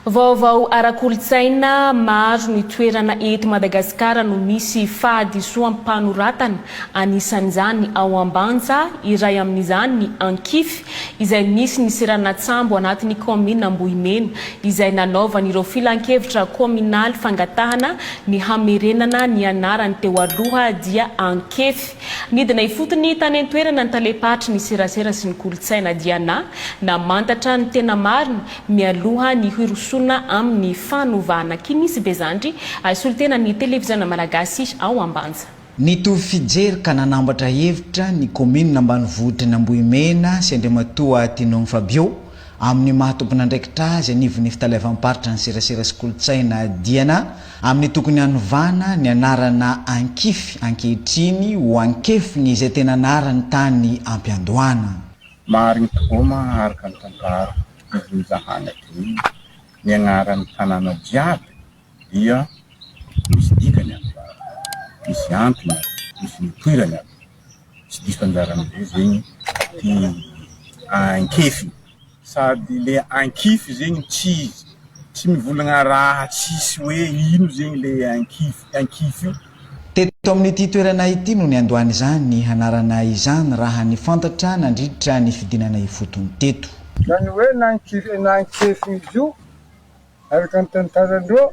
Vaovao ara-kolontsaina, Maro ny toerana eto Madagasikara no misy fahadisoam-panoratana, anisan'izany ao Ambanja, iray amin'izany ny Ankify, izay misy ny seranan-tsambo anatin'ny kaominina Ambohimena, izay nanaovan'ireo filankevitra kaominaly fangatahana ny hamerenana ny anarany teo aloha dia Ankefy. Nidina ifotony tany an-toerana ny talem-paritry ny serasera sy ny kolontsaina dia na namantatra ny tena marina mialoha ny hirosoana amin'ny fanovana kimisy be zandry solotena ny televiziona malagasy ao Ambanja. Nitovy fijery ka nanambatra hevitra ny kaominina ambanivohitry ny Ambohimena sy Andriamatoa Tinogny Fabio amin'ny maha tompon'andraikitra azy anivon'ny fitaleavam-paritra ny serasera sy kolontsaina dia na Amin'ny tokony hanovana ny anarana Ankify ankehitriny ho Ankefiny izay tena anarany tany am-piandohana. Marigny tokoa ma araka ny tantara nivonjahany hatreto ny agnaran'ny tanàna jiaby dia misy dikany aby, misy antony aby, misy nipoirany aby. tsy diso anjarany be zegny ty ankefy sady le ankify zegny tsy izy tsy mivolagna raha tsisy hoe ino zegny le ankify ankify io. Teto amin'ity toerana ity no niandohan'izany anarana izany raha ny fantatra nandritra ny fidinana ifotony teto. Zany hoe na ankify na ankefy izy io araka ny tantaran-dreo.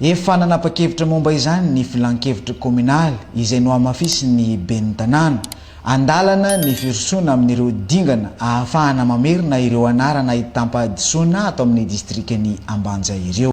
Efa nanapa-kevitra momba izany ny Filan-kevitra Kominaly izay nohamafisin'ny Ben'ny Tanàna. Andalana ny firosoana amin'ireo dingana ahafahana mamerina ireo anarana ahitam-pahadisoana ato amin'ny Distrikan'i Ambanja ireo.